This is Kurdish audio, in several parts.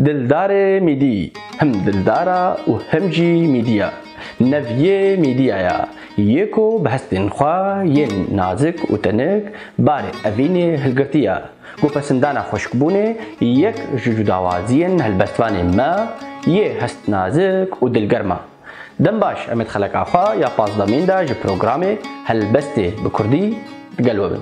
Dildarê mîdî, him dildara û him jî mîdî ya. Nev yê mîdîya ya yê ku bi hestên xwe yên nazik û tenik barê evînê hilgirtî ya. Gopesindana xweşikbûnê yek ji cudawaziyên helbestvanên me yê hest nazik û dilgerm a. Dem baş em ê di xeleka xwe ya pazdemîn de ji programê Helbestê bi kurdî digel we bin.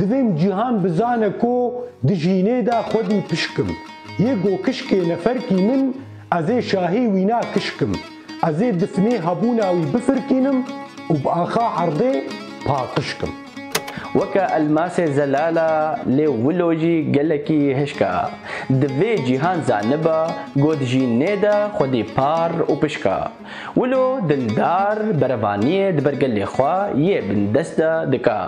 Divêm cîhan bizane ku di jînê de xwedî pişk im. Yê go kişkê neferkî min ez ê şahî wîna kişk im. Ez ê difnê hebûna wî bifirkînim û bi axa erdê paqişk im. Weke elmasê zelal e lê wilo jî gelekî hişk e. Divê cîhan zaniba ku di jînê de xwedî par û pişk e. Wilo dildar berevaniyê di ber gelê xwe yê bindest de dike.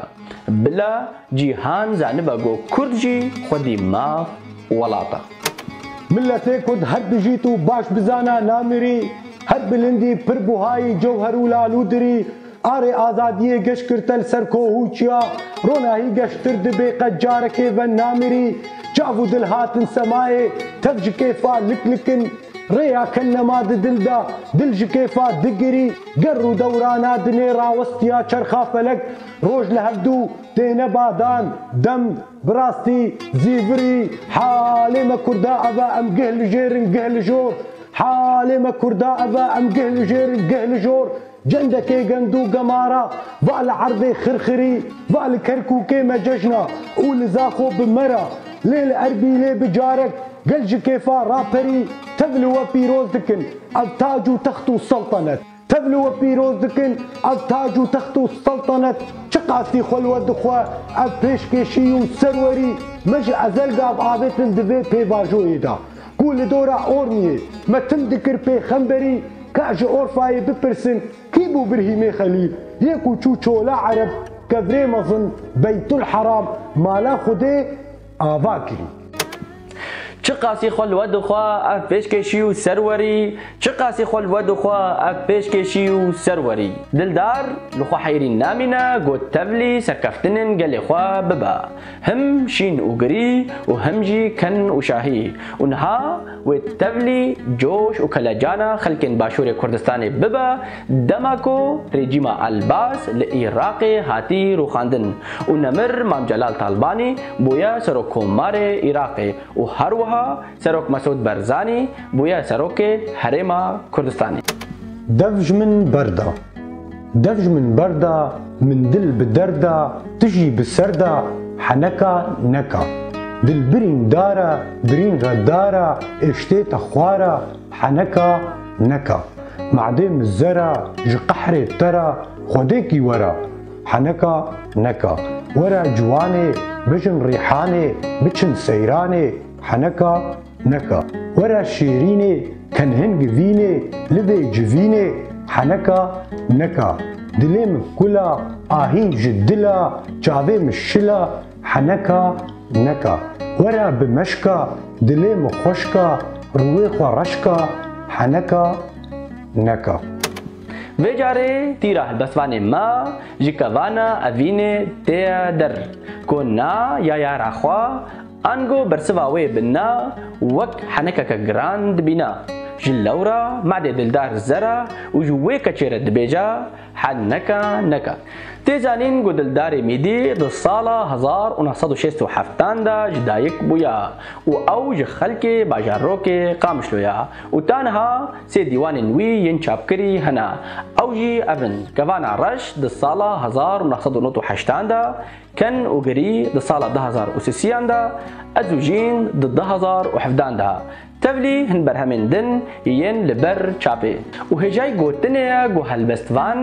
Bila cîhan zanibe ku kurd jî xwedî maf û welat e. Miletê kurd her dijît û baş bizana namirî, her bilindî pir buhayî cewher û lalû dirî, arê azadiyê geş girte li ser koh û çiya, ronahî geştir dibê qet carekê ve namirî, çav û dil hatin semayê, tev ji kêfa lik lik in, Rêya ke nema di dil de, dil ji kêfa digirî, ger rûdewrana di nê rawestiya çerxa felek, roj li hevdû têne badan, dem, bi rastî, zîvirî, halê me kurda ev e em gih li jêr in gih li jor, halê me kurda ev e em gih li jêr in gih li jor, Cendekê gend û gemara va li erdê Xirxirî, va li Kerkûkê me cejna û li Zaxo bi me ra, lê li Erbîlê bi carek gel ji kêfa raperî tev li we pîroz dikin ev tac û text û seltenet. Tev li we pîroz dikin ev tac û text û seltenet çiqasî xwe li we dixwe ev pêşkêşî û serwerî me ji ezelgav avêtin di vê pêvajoyê de. Ku li dora Ormiyê me tim dikir pêxemberî ka ji Orfayê bipirsin kî bû Birhîmê Xelîl yê ku çû çola Ereb kevirê mezin Beytulheram mala Xwedê ava kirî. Çiqasî xwe li we dixwe ev pêşkêşî û ser werî Çiqasî xwe li we dixwe ev pêşkêşî û ser werî Dildar li xwe heyrîn namîne got tevlî serkeftinên gelê xwe bibe. Him şîn û girî û him jî kin û şahî û niha wê tevlî coş û kelecana xelkên Başûrê Kurdistanê bibe dema ku rejîma Elbas li Îraqê hatî rûxandin û nemir Mam Celal Talbanî bûye Serokkomarê Îraqê û her wiha Serok Mesûd Barzanî bûye Serokê Herêma Kurdistanê. Dev ji min berda. Dev ji min berda Min dil bi derda Tu jî bi serda Heneka neka Dil birîn dara Birîn re dara Ê ştê te xwara Heneka neka Madê min zera Ji qehrê te ra Xwedêkî wera Heneka neka Were ciwanê Bijin rîhanê Biçin seyranê Heneka neka were şêrînê Tenhin givînê livê civînê Heneka neka dilê min kula Ahîng ji dila çavê min şila Heneka neka were bi meşka Dilê min xweşka rûyê xwe reşka Heneka neka. Vê carê tîra helbestvanê ma ji kevana evînê têye der. Ko na yaya ra xwe Ango bersiva wê bi na wek henekeke giran dibîna. Ji lewra Madê Dildar Zera û ji wê keçê re dibêja Hel neka neka. Tê zanîn ku Dildarê Mîdî di sala hezar û neh sed û şêst û heftan de ji dayik bûya û ew ji xelkê bajarokê Qamişlo ya û taniha sê dîwanên wî yên çapkirî hene. Ew jî ev in, Kevana Reş di sala hezar û neh sed û nod û heştan de Ken û girî di sala du hezar û sisiyan de, ez û jîn di du hezar û hevdan de, tevlî hin berhemên din yên li ber çapê. Û hêjayî gotinê ye ku helbestvan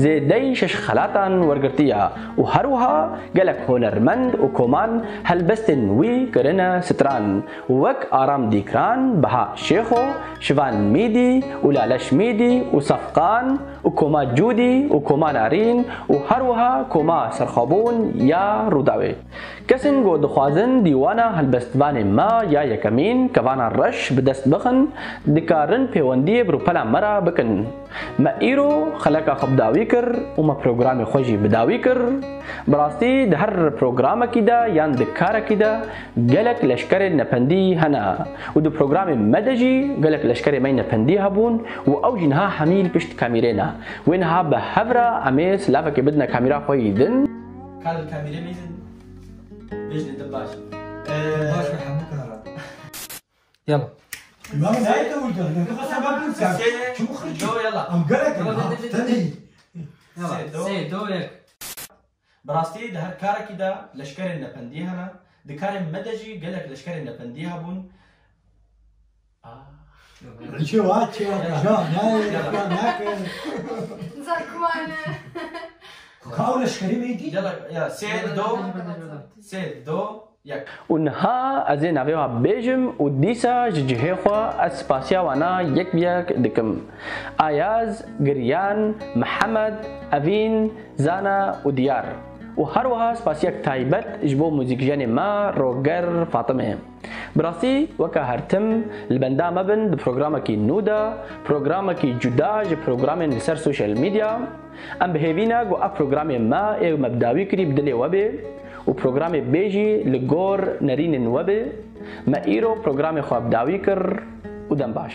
zêdeyî şeş xelatan wergirtiye û her wiha gelek hunermend û koman helbestên wî kirine stran wek Aram Dîkran, Beha Şêxo, Şivan Mîdî û Laleş Mîdî û Safqan, û koma Cûdî û koma Nerîn û her wiha koma Serxabûn ya Rûdawê. Kesên ku dixwazin dîwana helbestvanê me ya yekemîn kevana reş bi dest bixin, dikarin pêwendiyê bi rûpela me re bikin. Me îro xeleka xwe bi dawî kir û me programê xwe jî bi dawî kir. Bi rastî di her programekî de yan di karekî de Gelek leşkerên nependî hene û di programê me de jî gelek leşkerê me nependî hebûn û ew jî niha hemîl pişt kamîrê ne. Wê niha bi hev re em ê silavekê bidine kamîra xwe yî din. Kar li kamîrê me yî din. Bêjne din baş in. Din baş in hemû karan. Yala. Lan zayê te wî dixwîne. Tu qisa bab bikî. Çimû xirçî. Em gelek in. Tenê yî. Sê do yek. Bi rastî di her karekî de leşkerên nependî hene, di karên me de jî gelek leşkerên nependî hebûn, gelek sê, do, sê, do, Û niha ez ê navê wan bêjim û dîsa ji cihê xwe ez spasiya wan a yek bi yek dikim, Ayaz, Giryan, Mihemed, Evîn, Zana û Diyar û her wiha spasiyek taybet ji bo muzîkjenê me Roger Fatime. Bi rastî weke her tim li benda me bin di programekî nû de, programekî cuda ji programên li ser sosyal medya, Em bi hêvî ne ku ev programê me ê me bi dawî kirî bi dilê we bê û programê bê jî li gor nerînên we bê. Me îro programê xwe bi dawî kir û dem baş.